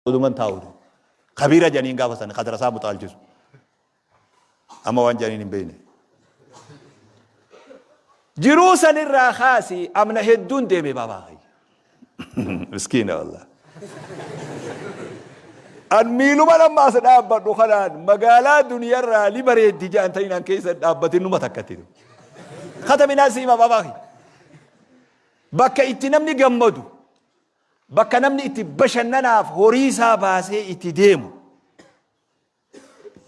Uduman taa'u jedhe. Kabiira janiin gaafa sana kadara isaa muxaalchisu. Amma waan janiin hin beekne. Jiruu sanirraa kaasi amna hedduun deeme baabaa kayya. Miskiina wallah. An miiluma lammaa as dhaabbadhu kanaan magaalaa duniyarraa ni bareeddi jaan ta'in an keessa dhaabbatin numa takkatti. Kata minaa siima baabaa kayya. Bakka itti namni gammadu Bakka namni itti bashannanaaf horii isaa baasee itti deemu.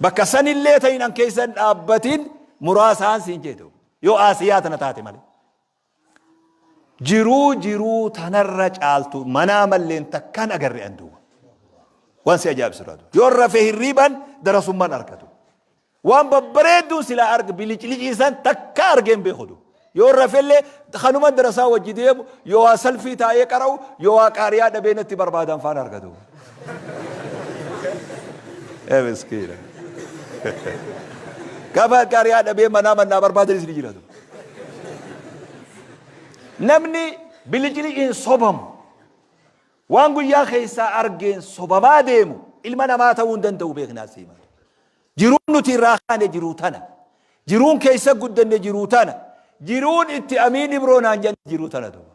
Bakka sanillee ta'in an keessa hin dhaabbatin muraasaan siin jedhu. Yoo Aasiyaa tana taate malee. Jiruu jiruu tanarra caaltu manaa malleen takkaan agarre an duuba. Waan si ajaa'ibsiisu. Yoo rafee hirriiban darasummaan argatu. Waan babbareedduun silaa arge biliclicii san takkaa argee hin beeku du. Yoon rafellee kanuma darasaa wajji deemu yoo waa salfii taa'ee qara'u yoo waa qaari'aa dhabee natti barbaadan faan arga du. Ee miskiina. Gaafa qaari'aa dhabee manaa mannaa barbaadanis ni jira du. Namni bilicliciin sobamu waan guyyaa keessaa argeen sobamaa deemu ilma namaa ta'uu hin danda'u beeknaa siima. Jiruun nuti irraa kaane jiruu tana. Jiruun keessa guddanne jiruu tana. Jiruun itti amiin ibroo naan janne jiruu tana duuba.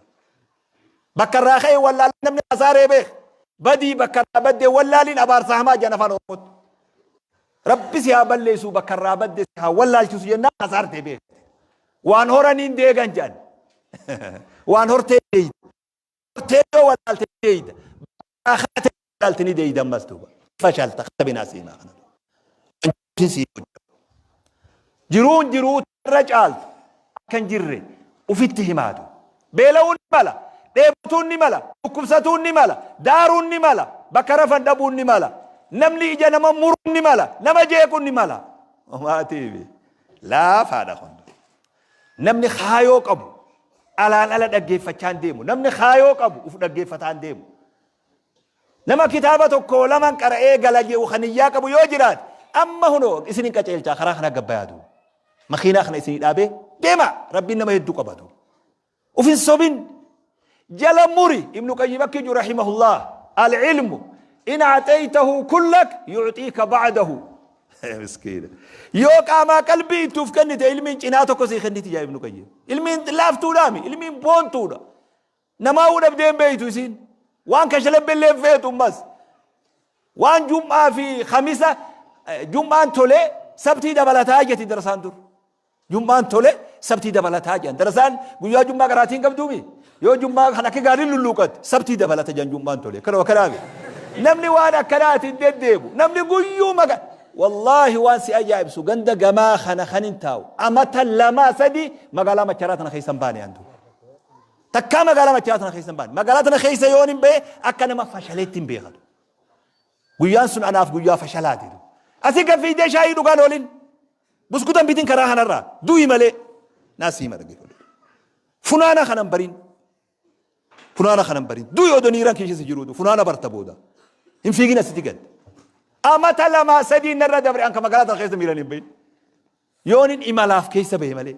Bakka irraa ka'e wallaalee namni hasaaree beeka. Badii bakka irraa baddee wallaaliin abaarsa hamaa jedhan afaan Oromootti. Rabbi si haa balleessuu bakka irraa badde si haa wallaalchisu jennaan hasaartee beekte. Waan horaniin deegan jedhan. Waan hortee deeyte. Hortee yoo walaalte ni deeyda. Bakka kaate walaalte ni deeyda ammas duuba. Fashalta kana binaa siimaa kana. Wanjirtiin sii hojjatu. Jiruun jiruu irra caaltu akka hin jirre ufitti himaatu. Beela'uun ni mala, dheebotuun ni mala, dhukkubsatuun ni mala, daaruun ni mala, bakka rafan dhabuun ni mala, namni ija nama muruun ni mala, nama jeequun ni mala. Homaatiifi laafaadha kun. Namni kaayoo qabu alaan ala dhaggeeffachaa hin deemu. Namni kaayoo qabu uf dhaggeeffataa hin deemu. Nama kitaaba tokko laman qara'ee gala jedhu kan iyyaa qabu yoo jiraate amma hunoo isin hin qaceelchaa karaa kana gabbayaatu. Makiinaa kana isin dhaabee deema rabbiin nama hedduu qabatu. Of hin sobin. Jala muri. Ibnu Qayyim akka jedhu rahimahullah. Al-ilmu in acxaytahu kullak yucxiika bacdahu. Miskiina. Yoo qaamaa qalbii itti uf kennite ilmiin cinaa tokko sii kenniti jaa Ibnu Qayyim. Ilmiin laaftuudhaami. Ilmiin boontuudha. Namaa uu dhabdee hin beeytu isiin. Waan kashalabbillee hin feetu ammas. Waan jum'aa fi kamisa jum'aan tolee sabtii dabalataa jeti darsaan dur. Jum'aan tole, sabtii dabalataa jedhan. Darasaan guyyaa jum'aa qaraatii hin qabduu mi? Yoo jum'aa kan akka gaariin lulluuqatte sabtii dabalata jedhan jum'aan tole. Kana akkanaa mi? Namni waan akkanaati hin deddeebu. Namni guyyuu maga wallaahi waan si ajaa'ibsu ganda gamaa kana kan hin taa'u. Amata lamaa sadii magaalaa macharaa tana keessa hin baane antu. Takkaa magaalaa macharaa tana keessa hin baane. Magaalaa tana keessa yoon hin ba'e akka nama fashaleetti hin beekatu. Guyyaan sun anaaf guyyaa fashalaati du. Asi gad fiigdee shaayii dhugaa na waliin. Buskuta hin bitin karaa kanarraa. Du'i malee. Naa siima dhaggeeffadhu. Funaana kanan bariin. Funaana kanan bariin. Du'i odoo niiraan keessa si jiruutu. Funaana barta booda. Hin fiigin asiti gad. Amata lamaa sadii narra dabre an ka magaalaa tana keessa miiraan hin bahin. Yoonin imalaaf keessa bahe malee.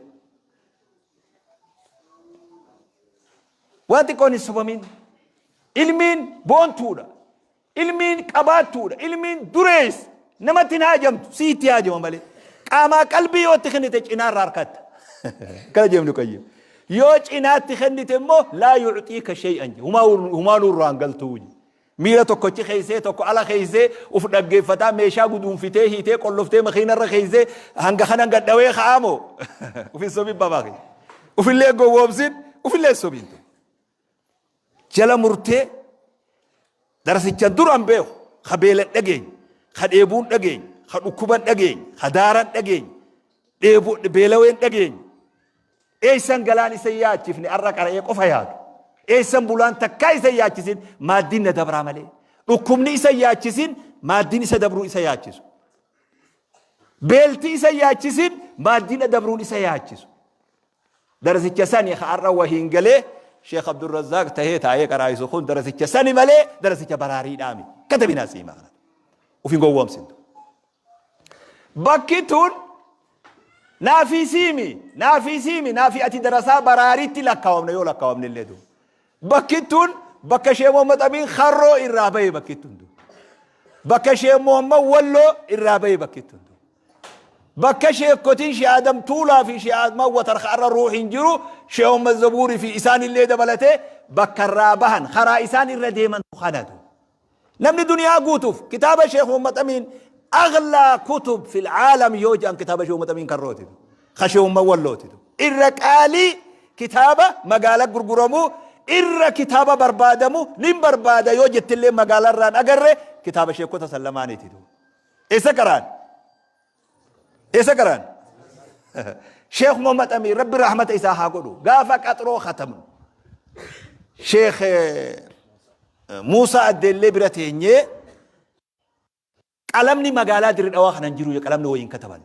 Waan xiqqoon hin sobamin. Ilmiin boontuudha. Ilmiin qabaattuudha. Ilmiin durees namatti hin haajamtu. Si itti haajama malee. Qaamaa qalbii yoo itti kennite cinaarraa harkatta. Kana jeemnu qayyim. Yoo cinaatti kennite immoo laa yuucxii ka shay'an je. Humaa nurraan galtuu je. Miila tokko achi keessee tokko ala keessee uf dhaggeeffataa meeshaa guduunfitee hiitee qolloftee makiina irra keessee hanga kanan gad dhawee ka'aa moo uf hin sobin babaaki ufillee gowwoomsin ufillee hin sobin tun jala murtee darasicha duran beeku ka beela dhageenya ka dheebuun dhageenya ka dhukkuban dhageenya ka daaran dhageenya dheebu beelaween dhageenya Eessan galaan isa hin yaachifne har'a qara'ee qofa yaadu. Eessan bulaan takkaa isa hin yaachisin maaddiin na dabraa malee. Dhukkubni isa hin yaachisin maaddiin isa dabruu isa yaachisu. Beelti isa hin yaachisin maaddiin na dabruun isa yaachisu. Darasicha sani ka har'a wahiin galee Sheekh Abdurrazzaaq tahee taa'ee qaraa'isu kun darasicha sani malee darasicha baraariidhaa miti. Katabinaa siima kana. Uf hin gowwoomsintu. Bakki tun naafii siimi naafii siimi naafii ati darasaa baraariitti lakkaawamna yoo lakkaawamne illee duuba. Bakki tun bakka Sheekh Muhammad Amiin Harroo irraa bahe bakki tun duuba. Bakka Sheekh Muhammad Walloo irraa bahe bakki tun duuba. Bakka sheekotiin Sheekh Adam Tuulaa fi Sheekh Admaan Watarka irra ruuhiin jiru Sheekh Muhammad Zabuurii fi isaan illee dabalatee bakka irraa bahan karaa isaan irra deeman kana duuba. Namni duniyaa guutuuf kitaaba Sheekh Muhammad Amiin aghlaa kutub fil aalam yoo jedhan kitaaba Sheekh Muhammad Amiin kan rootitu. Ka Sheekh Muhammad wallootitu. Irra qaalii kitaaba magaala gurguramu irra kitaaba barbaadamu nin barbaada yoo jettillee magaalarraan agarre kitaaba sheekota san lamaaniititu. Eessa qaraan? Isa qaraan. Sheekh Muhammad Amiin rabbi rahmata isaa haa godhu. Gaafa qaxroo khatamnu. Sheekh Muusaa Addeellee bira teenyee qalamni magaalaa dirri dhawaa kanan jiru qalamni wayiin kataban.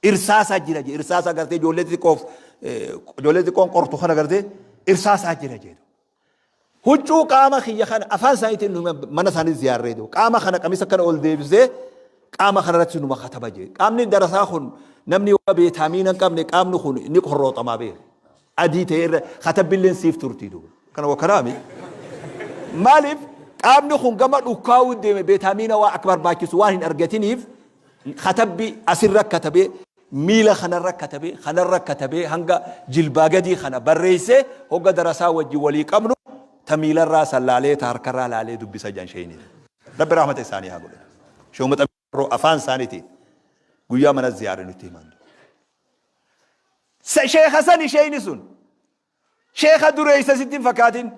Irsaasaa jira jee irsaasaa gartee ijoollee xixiqqoof ijoollee xixiqqoon qortu kana gartee irsaasaa jira jedhu. Huccuu qaama kiyya kana afaan isaaniitiin nu hima mana isaanii ziyaarree jiru. Qaama kana qamisa kana ol deebisee qaama kana irratti nu makatama jee. Qaamni darasaa kun namni waa beetaamiina hin qabne qaamni kun ni qorrooxamaa beeka. Adii ta'ee irra katabbilleen siif turtii duuba. Kana wakanaami. Maaliif qaamni kun gama dhukkaa'uu deeme beetaamiina waa akka barbaachisu waan hin argatiniif katabbi asirra katabee miila kanarra katabee, kanarra katabee hanga jilbaa gadii kana barreessee hogga darasaa wajjin walii qabnu ta miilarraa san laalee ta harkarraa laalee dubbisa jedhan sheeyniin. Rabbi rahmata isaanii haa godhu. Shehu Maxamii Farroo afaan isaanitiin guyyaa mana ziyaarre nutti himan. Sheekha sani sheeyni sun. Sheekha dureessa sitti hin fakkaatin.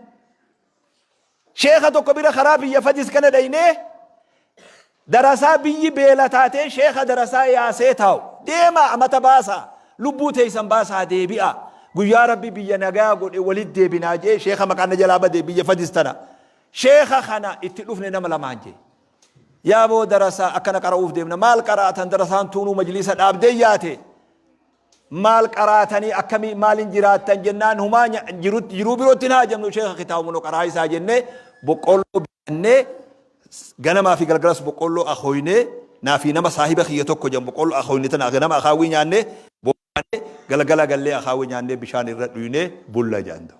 Sheekha tokko bira karaa biyya fajis kana dhaynee darasaa biyyi beela taatee sheekha darasaa yaasee taa'u. Deemaa amata baasaa lubbuu teeysan baasaa deebi'aa. Guyyaa rabbi biyya nagaa godhe walit deebinaa jee sheekha maqaan na jalaa bade biyya fajis tana. Sheekha kana itti dhufne nama lamaan jee. Yaaboo darasaa akkana qara'uuf deemna maal qara'atan darasaan tuunuu majliisa dhaabdee yaate. maal qaraatanii akkamii maalin jiraattan jennaan humaa nya- jirutti- jiruu birootti hin haajamnu sheeka kitaaba munoo qaraayisaa jennee boqqoolloo bitannee ganamaa fi galgalas boqqoolloo akooynee naa fi nama saahiba kiyya tokko jedhamu boqqoolloo akooyne tana ganama akaawwii nyaannee bobbaanee galgala gallee akaawwii nyaannee bishaan irra dhuynee bulla jedhan ta'u.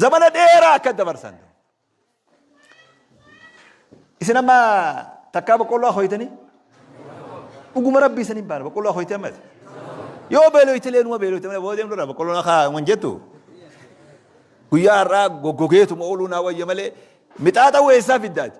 Zamana dheeraa akka dabarsan ta'u. Isin amma takkaa boqqolloo akooytanii? Dhuguma rabbii isin hin baara boqqolloo akooytee ammas. Yoo beelooytilee numa beelooyte malee booda deemnu irraa boqqolloon akka hin jettu. Guyyaa har'aa goggogeetuma ooluu naa wayya malee mixaaxa weessaa fiddaati.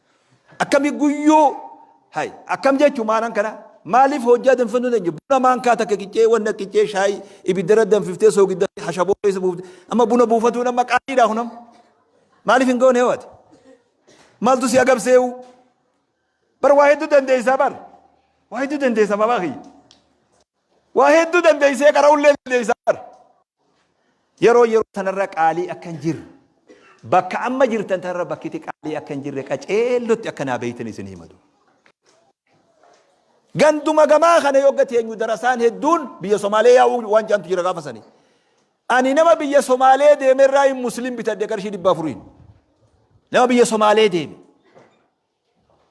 Akkami guyyuu hay akkam jechu maanan kana maaliif hojjaa danfisuu hin dandeenye buna maankaa takka qiccee wanna qiccee shaayii ibiddara danfiftee soogidda hashaboo keessa buufte amma buna buufatuun amma qaaliidha kunam maaliif hin goone ho'ate maaltu si agabseewu bar waa hedduu dandeessaa bar waa hedduu dandeessaa babaa kiyya Waa hedduu dandeessee qara'ullee dandeessa bar. Yeroo yeroo tanarra qaalii akka hin jirre bakka amma jirtan tanarra bakkiti qaalii akka hin jirre qaceellotti akka naa beeytan isin himadu. Ganduma gamaa kana yogga teenyu darasaan hedduun biyya Somaalee yaa'uu waan jaantu jira gaafa sanii. Ani nama biyya Somaalee deemerraa hin muslim bitadhe qarshii dhibba afuriin. Nama biyya Somaalee deeme.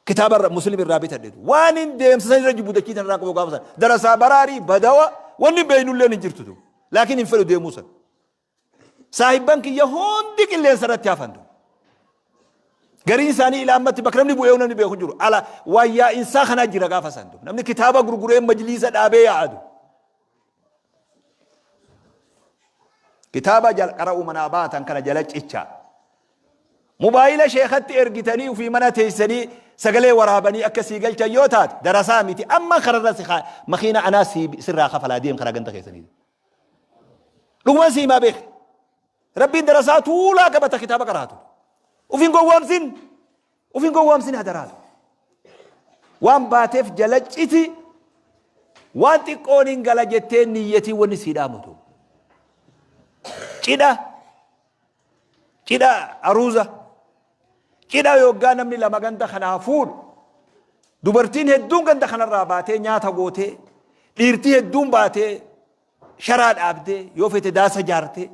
Kitaaba irra muslim irraa bitadhetu waan hin deemsa san irra jibbu dachii tan irraa qabu gaafa san darasaa baraarii badawa wanni beeynulleen hin jirtu tu laakiin hin fedhu deemuu san saahibban kiyya hundi qilleensa irratti hafan tu gariin isaanii ilaa ammatti bakka namni bu'ee namni beeku jiru ala waayyaa insaa kanaa jira gaafa san tu namni kitaaba gurguree majliisa dhaabee yaa'adu Kitaaba jalqara umanaa baatan kana jala cichaa. Mubaayila sheekatti ergitanii ofii mana teessanii sagalee waraabanii akka sii galchan yoo taate darasaa miti amma kararra si kaa- makiina anaa sii sirraa kafalaa deem karaa ganda keessanii. Dhuguman sii maa beek. Rabbiin darasaa tuulaa qabata kitaaba qaraatu. Ofiin gowwoomsin. Of hin gowwaamsin hadaraatu. Waan baateef jala citi waan xiqqoon hin gala jettee niyyatii wanni sii dhaamutu. Cidha cidha aruuza cidha yoggaa namni lama ganda kanaa fuudhu dubartiin hedduun ganda kanarraa baatee nyaata gootee dhiirtii hedduun baatee sharaa dhaabdee, yoo fete daasa jaartee,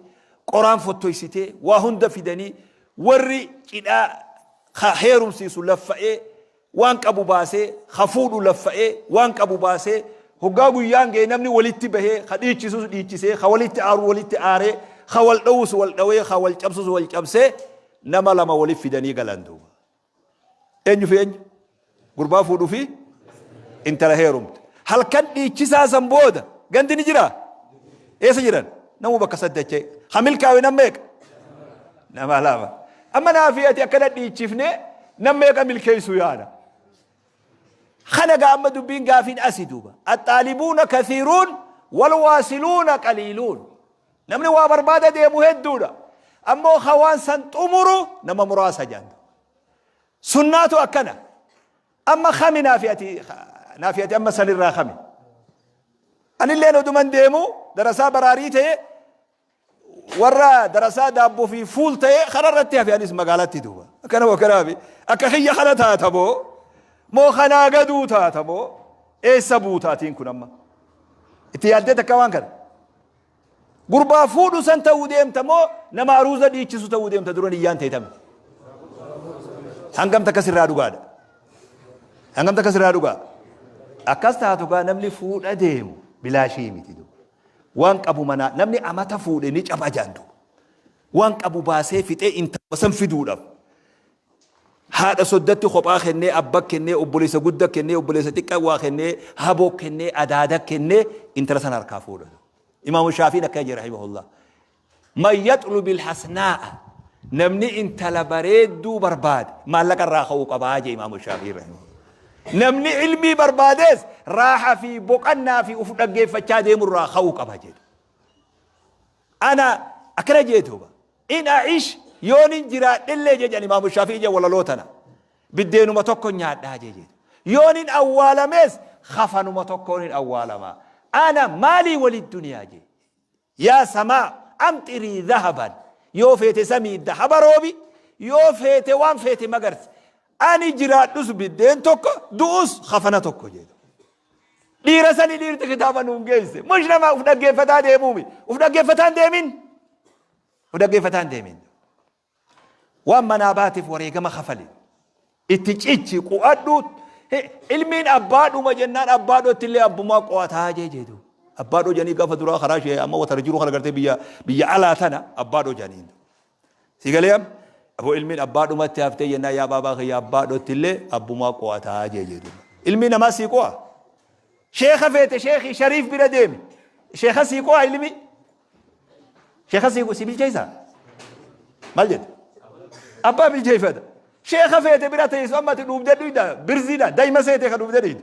qoraan fottoysitee, waa hunda fidanii, warri cidhaa ka heerumsiisu laffa'ee, waan qabu baasee, ka fuudhu laffa'ee, waan qabu baasee, hoggaa guyyaan gaye namni walitti bahee, ka dhiichisus dhiichisee, ka walitti aaru walitti aaree, ka wal dhowus wal dhowee, ka wal cabsus wal cabsee, nama lama walitti fidanii galan duuba. Eenyu fi eenyu? Gurbaa fuudhu fi intala heerumte. Halkan dhiichisaa san booda gandi ni jiraa? Eessa jiran? Namuu bakka satti achee. Ha milkaawe nam meeqa? Nama lama. Amma naa fi ati akkana dhiichifnee nam meeqa milkeessuu yaada? Kana gaa amma dubbiin gaafiin asi duuba. Axaalibuuna kathiiruun wal waasiluuna qaliiluun. Namni waa barbaada deemu hedduudha. Ammoo ka waan san xumuru nama muraasa jaan duuba. Sunnaatu akkana. Amma kami naafi ati naafi ati amma sanirraa kami? Anilleen oduman deemu darasaa baraarii ta'e warra darasaa daabboo fi fuul ta'e kanarratti hafe anis magaalatti duuba. Akkana moo kana hafe? Akka kiyya kana taata moo? Moo kanaa gaduu taata moo? Eessa buutaatiin kun amma? Itti yaaddee takka waan kana? Gurbaa fuudhu san ta'uu deemta moo nama aruuza dhiichisu ta'uu deemta dura niyyaan ta'e tami. Hangam takka sirraa dhugaadha. Hangam takka sirraa dhugaa. Akkas taatu gaa namni fuudha deemu bilaashii miti duuba. Waan qabu manaa namni amata fuudhe ni caba jaandu. Waan qabu baasee fixee intala san fiduudhaaf. Haadha soddatti kophaa kennee abba kennee obboleessa gudda kennee obboleessa xiqqa waa kennee haboo kennee adaada kennee intala san harkaa fuudha. Imaamu Shaafiin akkana jedhe rahimahullah. Man yaxlubil hasnaa'a namni intala bareedduu barbaade maallaqa irraa ka'uu qabaa jee Imaamu Shaafiin rahimahullah. Namni ilmii barbaadees raaha fi boqannaa fi uf dhaggeeffachaa deemu irraa ka'uu qaba jedhe. Ana akkana je'e duuba, In a'ish, yoonin jiraadhellee je'e jedhan Imaamu Shaafi'iyya walaloo tana, biddeenuma tokkon nyaadhaa je'e je'e duuba. Yoonin awwaalamees kafanuma tokkoonin awwaalama. Ana maalii wali duniyaa je'e. Yaa samaa amxirii dhahaban, yoo feete samii dhahaba roobi, yoo feete waan feete magarsi. Ani jiraadhus biddeen tokko, du'us kafana tokko je'e duuba. Dhiira sani dhiirti kitaaba nuun geesse. Mush nama uf dhaggeeffataa deemuumi. Uf dhaggeeffataan deemin. Uf dhaggeeffataan deemin. Waan manaa baatiif wareegama kafali. Itti cichi qu'adhu. He- Ilmiin abbaa dhuma jennaan abbaa dhootti illee abbumaa qo'ataa jee jeetu. Abbaa dhoo janii gaafa duraa karaa ishee amma watara jiru kana gartee biyya biyya alaa tana abbaa dhoo janiin. Si galee am? Aboo ilmiin abbaa dhumatti haftee jennaan yaa baabaa kiyya abbaa dhottillee abbumaa qo'ataa jee jee duuba. Ilmii namaa sii qo'a. Sheeka feete sheekii shariif bira deemi. Sheeka sii qo'a ilmii. Sheeka sii si bilcheessaa? Maal jette? Abbaa bilcheeffata. Sheeka feete bira teessu amma ati dhuubdee dhuyda birziidha daa'ima seetee ka dhuubdee dhuyda.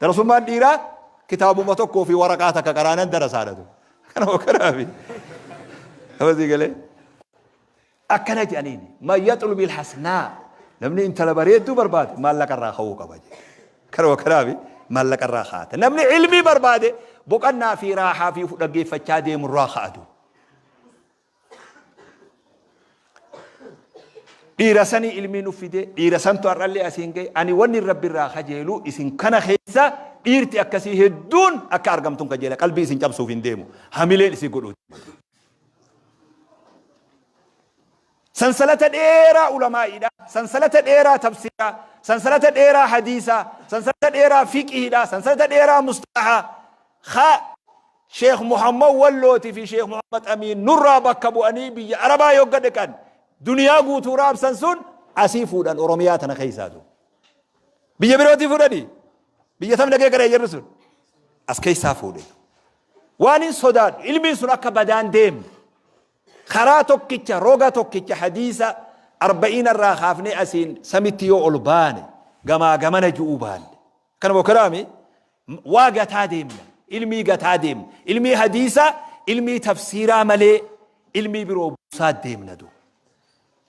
Darasummaan dhiiraa kitaabuma tokkoo fi waraqaa takka qaraanan darasaadha tu. Kana hokanaa fi amasii galee. Akkana jedhaniin man yaxlubil hasnaa namni intala bareedduu barbaade maallaqa irraa ka'uu qaba jedhe. Kana hokanaa fi maallaqa irraa kaa'ata. Namni ilmii barbaade boqannaa fi raahaa fi dhaggeeffachaa deemu irraa kaa'atu. Dhiira sanii ilmii nuuf fidee dhiira santu har'allee asiin ga'e ani wanni rabbi irraa kajeelu isin kana keessa dhiirti akkasii hedduun akka argamtuun kajeela qalbii isin cabsuuf hin deemu hamileen isin godhu. Sansalata dheeraa ulamaa'iidha. Sansalata dheeraa tafsiraa. Sansalata dheeraa hadiisaa. Sansalata dheeraa fiqiidha. Sansalata dheeraa mustalahaa. Kha. Sheikh Muhammad Wallooti fi Sheikh Muhammad Amiin nurraa bakka bu'anii biyya Arabaa yogga dhiqan duniyaa guutuu raabsan sun asii fuudhan Oromiyaa tana keessaatu. Biyya birootii fuudhanii biyya tam dhagee gara jarri sun as keessaa fuudhe. Waan hin sodaadhu ilmiin sun akka badaan deemne karaa tokkicha roga tokkicha hadiisa arba'iina irraa kaafnee asiin samitti yoo ol baane gamaa gamana ju'uu baanne Kana moo karaa mii waa gataa deemna ilmii gataa deemna ilmii hadiisaa ilmii tafsiiraa malee ilmii biroo buusaa deemna du.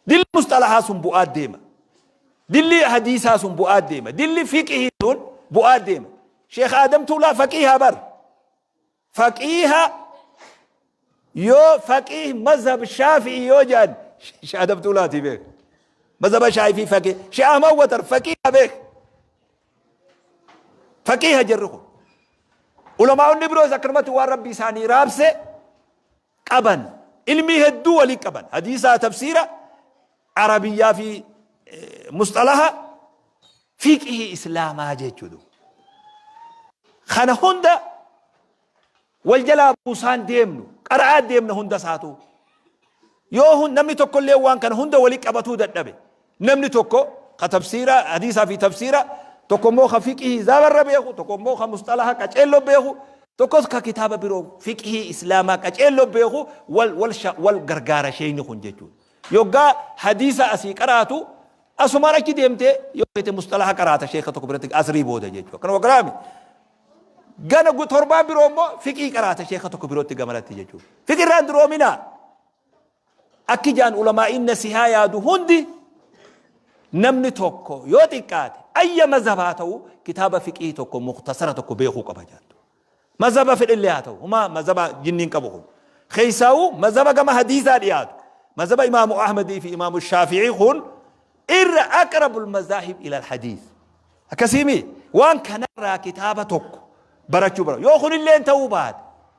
Dilli musxalahaa sun bu'aa deema. Dilli hadiisaa sun bu'aa deema. Dilli fiqihii sun bu'aa deema. Sheekh Aadam Tuulaa faqiihaa bar. Faqiiha yoo faqiih mazhab shaafi'i yoo jedhan Sheekh Adam Tuulaatii beek. Mazhaba shaafii faqiih. Sheekh Ahmad Watar faqiiha beek. Faqiiha jirru kun. Ulamaa'onni biroos akkanumatti waan rabbi isaanii raabse qaban ilmii hedduu waliin qaban hadiisaa tafsiira arabiyyaa fi musxalaha fiqihii islaamaa jechuudha. Kana hunda wal jalaa buusaan deemnu qara'aa deemna hunda isaatu yoo namni tokkollee waan kana hunda waliin qabatuu dadhabe Namni tokko ka tafsiira hadiisaa fi tafsiira, tokko immoo ka fiqhii zaabarra beeku, tokko immoo ka musxalaha qaceelloo beeku, tokkos ka kitaaba biroo fiqhii Islaamaa qaceelloo beeku wal wal sha wal gargaara sheeyni kun jechuudha. Yoggaa hadiisa asii qaraatu asumaan achi deemtee yoo feete musxalaha qaraata sheeka tokko biratti asrii booda jechuudha. Kana wagaraami. Gana gu- torbaan biroo immoo fiqhii qaraata sheeka tokko birootti gamalatti jechuudha. Fiqhirraan duroominaa. Akki ja'an ulamaa'iin nasihaa yaadu hundi namni tokko yoo xiqqaate ayya mazhaba haa ta'u kitaaba fiqihii tokko muktasara tokko beekuu qaba jaattu. Mazhaba fedhillee haa ta'u huma mazhaba jinniin qabu kun. Keessaa'u mazhaba gama hadiisaa dhiyaatu. Mazhaba imaamu Ahmadii fi imaamu Shaafi'ii kun irra aqrabul mazaahib ilal hadiis. Akkasiimi waan kanarraa kitaaba tokko barachuu bara. Yoo kunillee ta'uu baate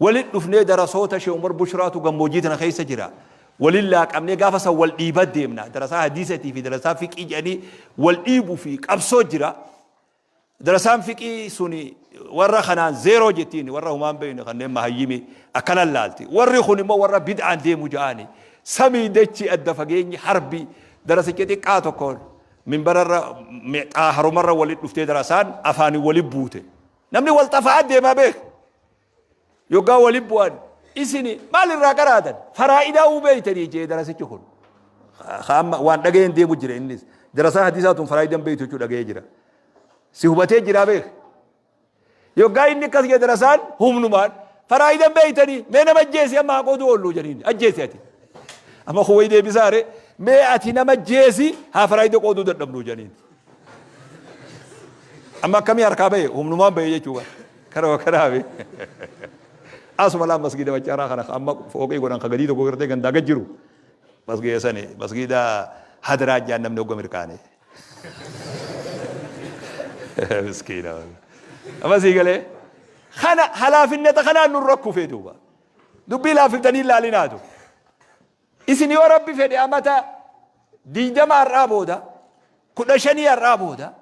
Walitti dhufnee darasoota Sheikh Umar Bushraatu gammoojjii tana keessa jira. Waliin laaqamnee gaafa san wal dhiibaa deemna. Darasaa hadiisatii fi darasaa fiqii jedhanii wal dhiibuu fi qabsoo jira. Darasaan fiqii suni warra kanaan zeeroo jettiin warra humaan beekne kanneen mahayyimii akkanan laalti. Warri kun immoo warra bid'aan deemu ja'aani. Samii dachi adda fageenyi harbi darasicha xiqqaa tokkoon minbararra xaaharumarra walitti dhuftee darasaan afaaniin walitti buute. Namni wal xafa'aa deemaa beeka. Yoggaa wali bu'an isini maal irraa qaraatan faraa'idaa uu beeytanii jee darasichi kun. Amma waan dhaga'een deemu jira innis. Darasaa hadiisaa tun faraa'idan beeytu jechuu dhaga'ee jira. Si hubatee jiraa beeka. Yoggaa inni akkas jee darasaan humnumaan faraa'idan beeytanii mee nama ajjeesi amma haa qooduu oollu jedhanii ajjeesi ati. Amma kun wayi deebisaa ree mee ati nama ajjeesi haa faraa'ida qooduu dadhabnu jedhanii. Amma akkamii harkaa bahe humnumaan bahe jechuu bara. Kanuma kanaafi. Asuma laan masgiida maccaaraa kana amma fooqii godhan ka gadii tokko gartee gandaa gad jiru. Masgiida sani masgiida hadiraa jaan namni hogga mirkaane. Miskiina. Amma sii galee. Kana halaafinnata kanaan nurra kufee duuba. Dubbii laafiftanii laalinaatu. Isin yoo Rabbi fedhe amata 20 har'aa booda, 15 har'aa booda,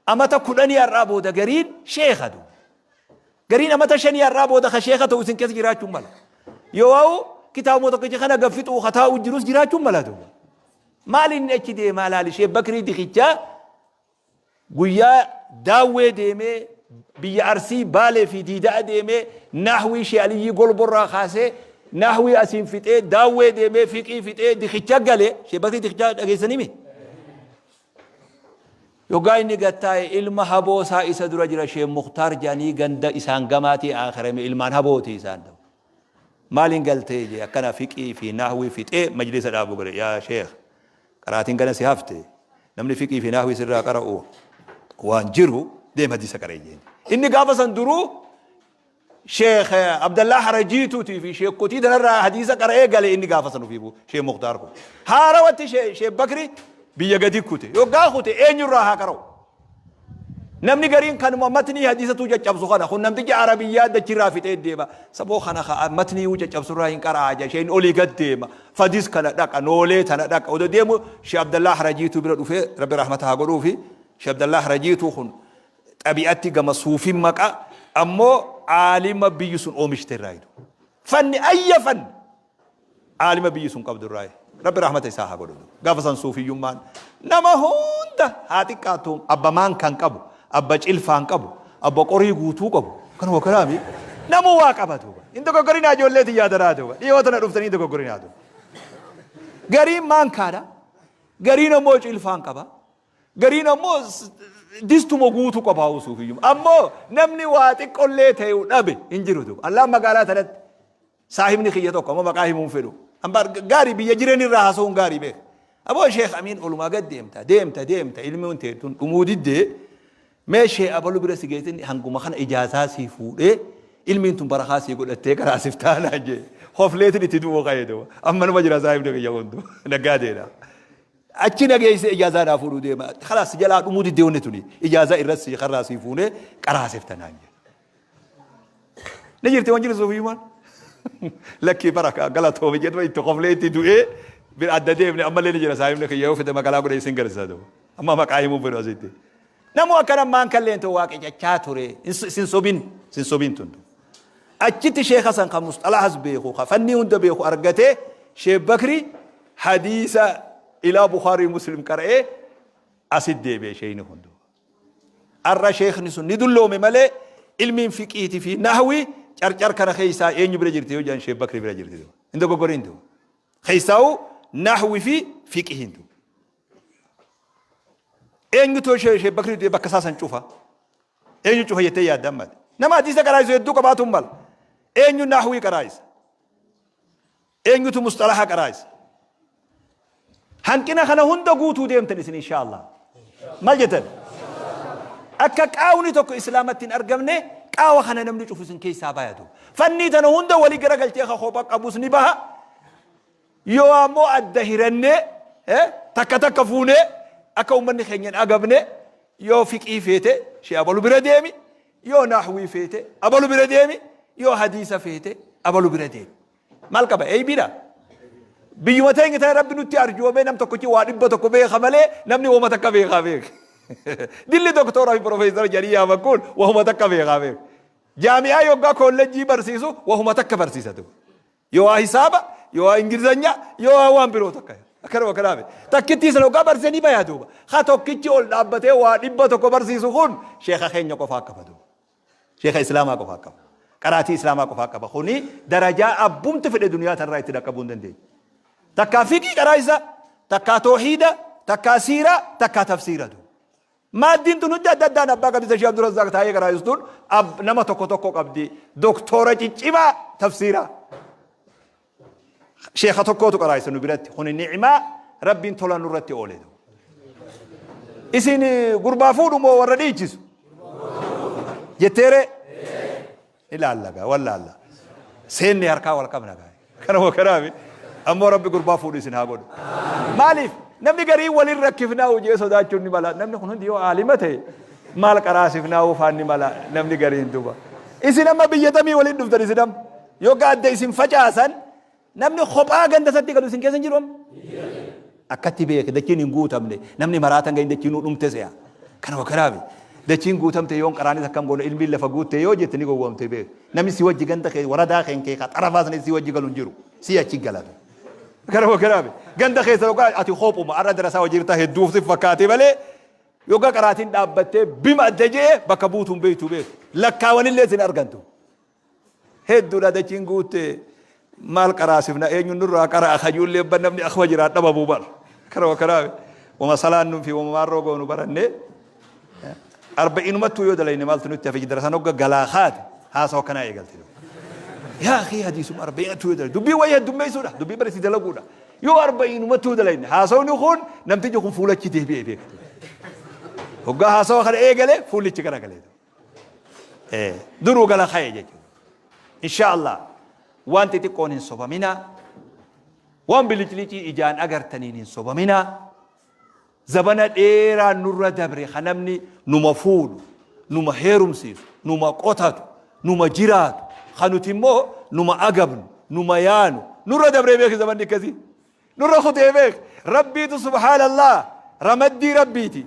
amata 10 har'aa booda gariin sheekha du. Gariin amata 5 har'aa booda ka sheekha ta'u isin keessa jiraachuun mala. Yoo waa'u kitaabuma tokkicha kana gaffixuu ka taa'u jirus jiraachuun mala du. Maal inni achi deemaa laali Sheekh Bakrii Dikichaa Guyyaa Daawwee deemee biyya Arsii, Baalee fi Diida'a deemee Nahwii Shee Aliyyii Golbo irraa kaasee Nahwii asiin fixee Daawwee deemee Fiqhii fixee Dikicha gale, Shee Bakrii Dikichaa dhageessanii mii? Yoggaa inni gad taa'e ilma haboo isaa isa dura jira Shee Muktaar jedhanii ganda isaan gamaatii aakhirame ilmaan habooti isaan ta'u. Maaliin galtee jee akkana Fiqhii fi Nahwii fixee majlisa dhaabuu gale yaa Sheekh Qaraatiin gana si hafte namni fiqhii fi naahwii sirraa qara'u waan jiru deem hadiisa qara'i jeen. Inni gaafa san duruu Sheekh Abdallaa Harajiituutii fi sheekkotii tanarraa hadiisa qara'ee gale inni gaafa san ofiifuu Sheekh Muktaar kun. Haarawatti Sheekh Bakri biyya gadi kute. Yoggaa kute eenyurraa haa qara'u? Namni gariin kanuma matnii hadiisatuu caccabsu kana kun namticha arabiyyaa dachirraa fixee deema saboo kana ka matniiyuu caccabsurraa hin qara'aa jedha sheen olii gad deema fadis kana dhaqa noolee tana dhaqa oda deemu shee abdallaah rajiituu bira dhufee rabbi rahmata haa godhuufi shee abdallaah rajiituu kun xabi'atti gama suufin maqa ammoo aalima biyyi sun oomishte irraa hidu fanni ayya fanni Aalima biyyi sun qabdu irraayi. Rabbi rahmata isaa haa godhu. Gaafa san suufiyyummaan nama hunda haa xiqqaattu abba maankaan qabu, abba cilfaan qabu, abba qorii guutuu qabu. Kana wakaraami namuu waa qaba duuba. Hin dogoggorinaa ijoollee tiyyaa daraa duuba. Dhiyoo tana dhuftanii hin dogoggorinaa duuba. Gariin maankaadha. Gariin ammoo cilfaan qaba. Gariin ammoo s- distuma guutuu qaba haa suufiyyummaa. Ammoo namni waa xiqqollee ta'u dhabe hin jiru duuba. Allaan magaalaa tanatti Saahibni kiyya tokko amma maqaa himuu hin fedhu. Ambaar gaarii biyya jireenya irraa haasa'uun gaarii beeka. Aboo Sheek Amiin olumaa gad deemta deemta deemta ilmoon tee tun dhumuu diddee mee Sheek Abalu bira si geessinni hanguma kana ijaazaa sii fuudhee ilmiin tun barakaa sii godhattee garaa sif taanaa jee hofleetin itti du'uu ka'ee ta'u amma nama jira saahibni kiyya kun tun naggaa deedha. Achi na geessee ijaazaa naa fuudhuu deema. Kalaas si jalaa dhumuu diddee wanni tuni ijaazaa irratti sii karraa sii fuunee qaraa sif tanaan jee. Ni jirti waan jiru suufiyumaan. Lakkii bara galatoomi jedhama itti koflee itti du'ee bira adda deemne ammallee ni jira saahibni kiyya yoo fide magaalaa godhe isin garsiisa ta'u. Amma maqaa himuu fedhu asitti. Namu akkana maan kalleen ta'u waaqe cachaa ture sin sobin sin sobin tundu. Achitti sheekha san kan musxalahas beeku kan fannii hunda beeku argatee sheek bakri hadiisa ilaa Bukhaarii Muslim qara'ee asit deebi'e sheeyni hundu. Ar'a sheekhni sun ni dulloome malee ilmiin fiqhiiti fi nahwii carcar kana keessaa eenyu bira jirti yoo jedhan Sheekh Bakri bira jirti. Hin dogoggoriin tu. Keessaa'u nahwi fi fiqhiin tu. Eenyutu Sheekh Bakri du'e bakka isaa san cufa. Eenyu cufa jettee yaadda ammaati. Nama hadiisa qaraa'isu hedduu qabaatu hin mala. Eenyu nahwii qaraa'isa. Eenyutu musxalaha qaraa isin? Hanqina kana hunda guutuu deemtan isin inshaa Allah. Maal jettan? Akka qaawni tokko islaamatti hin argamne qaawa kana namni cufu isin keessaa baayatu. Fannii tana hunda walii garagalchee ka kopha qabus ni baha. Yoo ammoo adda hirannee eh, takka takka fuunee akka uummanni keenya hin agabne yoo fiqii feete shee abalu bira deemi yoo naahwii feete abalu bira deemi yoo hadiisa feete abalu bira deemi. Maal qaba? Eybiidha? Biyyuma teenya ta'e rabbi nutti arjoomee nam tokkochi waa dhibba tokko beeka malee namni woma takka beekaa beeka. Dilli doktoora fi profeesara jedhanii yaaman kun wahuma takka beekaa beeka. Jaami'aa yoggaa koolleejjii barsiisu wahuma takka barsiisa ture. Yoo waa hisaaba, yoo waa ingilizanyaa, yoo waa waan biroo takka. Akkanuma kanaa miti. Takkittii sana yoggaa barsiisanii bayaa duuba. Ha tokkichi ol dhaabbatee waa dhibba tokko barsiisu kun sheeka keenya qofaa qaba duuba. Sheekha Islaamaa qofaa qaba. Qaraatii Islaamaa qofaa qaba. Kuni darajaa abbumti fedhe duniyaa tanraa itti dhaqqabuu hin dandeenye. Takkaa fiqii qaraa isaa, takkaa toohiida, takkaa siiraa, takkaa tafsiira du. Maaddiin tun hundi adda addaan abbaa gadisa Sheekh Abdurrazzaaq taa'ee qaraa'istuun ab- nama tokko tokko qabdi. Doktoora ciccimaa tafsiiraa. Sheekha tokkootu qaraaysa nu biratti kuni ni'imaa rabbiin tola nurratti oole. Isin gurbaa fuudhu moo warra dhiichisu? Jetteere? Ilaalla gaa wallaalla. Seenni harkaa wal qabna gaa. Kanuma kanaaf ammoo rabbi gurbaa fuudhu isin haa godhu. Maaliif? Namni garii waliin rakkifnaa hojii sodaachuun ni mala. Namni kun hundi yoo aalima ta'e maal qaraasifnaa oofaan ni mala namni gariin duuba. Isin amma biyya tamii waliin dhuftan isin amma. Yoo gaadda isin facaasan namni kophaa ganda isatti galu isin keessa hin jiru amma? Akkatti beeke dachiin hin guutamne namni maraatan ga'in dachiin nu dhumte se'a. Kana wakaraafi. Dachiin guutamte yoon qaraanis akkam goona ilmiin lafa guutte yoo jette ni gowwoomte beeke. Namni si wajji ganda kee waradaa keen kee xarafaa sana si wajji galu hin jiru. Si achi galata. Kana wakaraafi. Ganda keessa yookaan ati kophuma arra darasaa wajji jirta hedduu si fakkaate malee yookaan qaraatiin dhaabbattee bima adda je'e bakka buutuun beektu beeku. Lakkaawanillee sin argantu. Hedduudha dachiin guutte maal qaraasifna eenyuun nurraa qara'a kajuullee abban namni akkuma jiraat dhabamuu bar kana wakanaawe wama salaannuu fi wama maarroo goonu barannee arba'iinumattuu yoo dalayne maaltu nutti hafe darasaan hogga galaa kaate haasoo akkanaa eegalte yaa kee hadiisuma arba'iinattuu yoo dalayne dubbii wayii heddummeessuudha dubbii barisi dalaguudha yoo arba'iinumattuu dalayne haasawni kun namtichi kun fuulachi deebi'ee beekate hoggaa haasawa kana eegale fuullichi garagalee Eh, duruu gala ka'e jechuudha. Insha Allah waan xixiqqoon hin sobaminaa, waan biliclicii ijaan agartaniin hin sobaminaa, zabana dheeraa nurra dabre kan namni numa fuudhu, numa heerumsiisu, numa qotatu, numa jiraatu, kan nuti immoo numa agabnu, numa yaanu, nurra dabree beeki zabanni akkasii. Nurra kutee beeki. Rabbiitu subhaanallah ramaddii rabbiiti.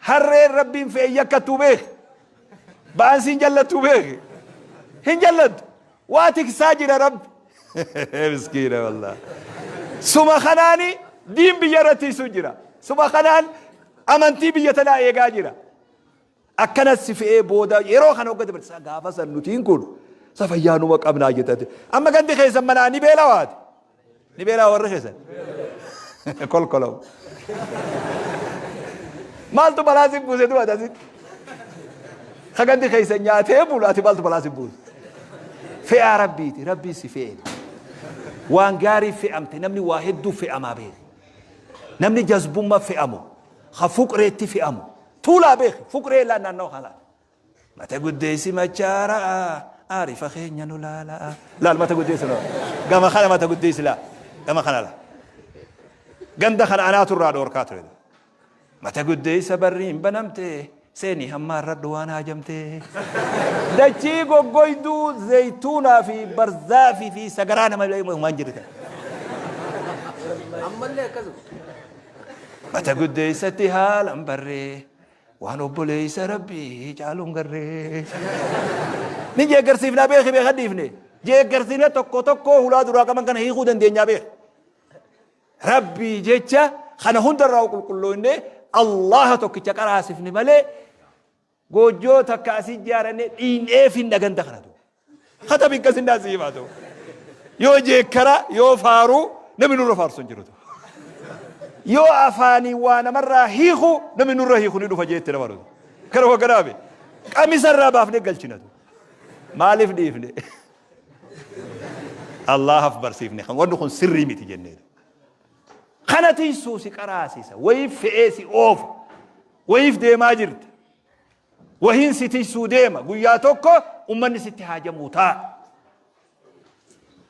Harreen Rabbiin fe'e yakkattuu beeke? Ba'aan siin jallattuu beeke? Hin jallattu. Waa tiksaa jira Rabbi. Miskiina wallah. Suma kanaani diin biyya irra tiisu jira. Suma kanaan amantii biyya tanaa eegaa jira. Akkana si fe'ee booda yeroo kana hogga dabarsa gaafa san nutiin kun sa fayyaanuma qabnaa jettate. Amma gandi keessan manaa ni beelawaati. Ni beelaa warri keessan. Kolkolaw. Maaltu balaa si buuse du'a dasitti. Sagandi keessan nyaatee bulu ati maaltu balaa si buuse. Fe'aa rabbiiti rabbiin si fe'eera. Waan gaarii fe'amte namni waa hedduu fe'amaa beeku. Namni jazbummaa fe'amu ha fuqreetti fe'amu. Tuulaa beeku fuqree ilaa naannoo kanaa. Mata guddeessi machaara'a aarifa keenya nu laala'a. Laal mata guddeessi nu gama kana mata guddeessi laa gama kana laa. Ganda kana anaatu irraa dhoorkaa ture. Mata guddeessa barri hin banamte seenii hammaarradhu waan haajamte. Dachii goggoyduu zayituunaa fi barzaafii fi sagaraa nama waan jirte. Ammallee akkasuma. Mata guddeessatti haalan barree Waan obboleessa rabbii caaluun garree. Ni jeeggarsiifnaa beeki beekan dhiifne. Jeeggarsiifnee tokko tokkoo hulaa duraa qaban kana hiikuu dandeenyaa beeka. Rabbii jecha kana hundarraa qulqullooyne Allaha tokkicha qaraasifne malee goojjoo takka asii jaaranne dhiin'eef hin dhaganda kana duuba. Hata bikka sindaa sii himaa ta'u. Yoo jeekkara, yoo faaruu namni nurra faarsu hin jiru ta'u. Yoo afaanii waa namarraa hiiku namni nurra hiiku ni dhufa jeetti nama dhufu. Kana hogganaame qamisa irraa baafnee galchinatu. Maaliif dhiifne? Allaahaf barsiifne kan wanni kun sirrii miti jenneetu. Kana tiysuu si qaraasisa, wayiif fe'ee si oofa, wayiif deemaa jirta. Wahiin si tiysuu deema. Guyyaa tokko ummanni sitti haajamuu taa.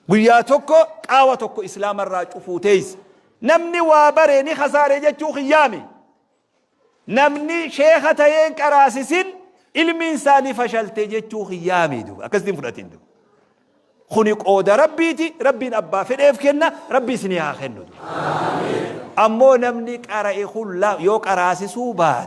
Guyyaa tokko qaawa tokko islaama irraa cufuu teeysa. Namni waa bare ni kasaare jechuu kiyyaami. Namni sheeka tayeen qaraasisin ilmiin isaa ni fashalte jechuu kiyyaami. Akkasitti hin fudhatin. Kuni qooda rabbiiti. Rabbiin abbaa fedheef kenna. Rabbii isinii haa kennu. Ammoo namni qara'e kun yoo qaraasisuu baate.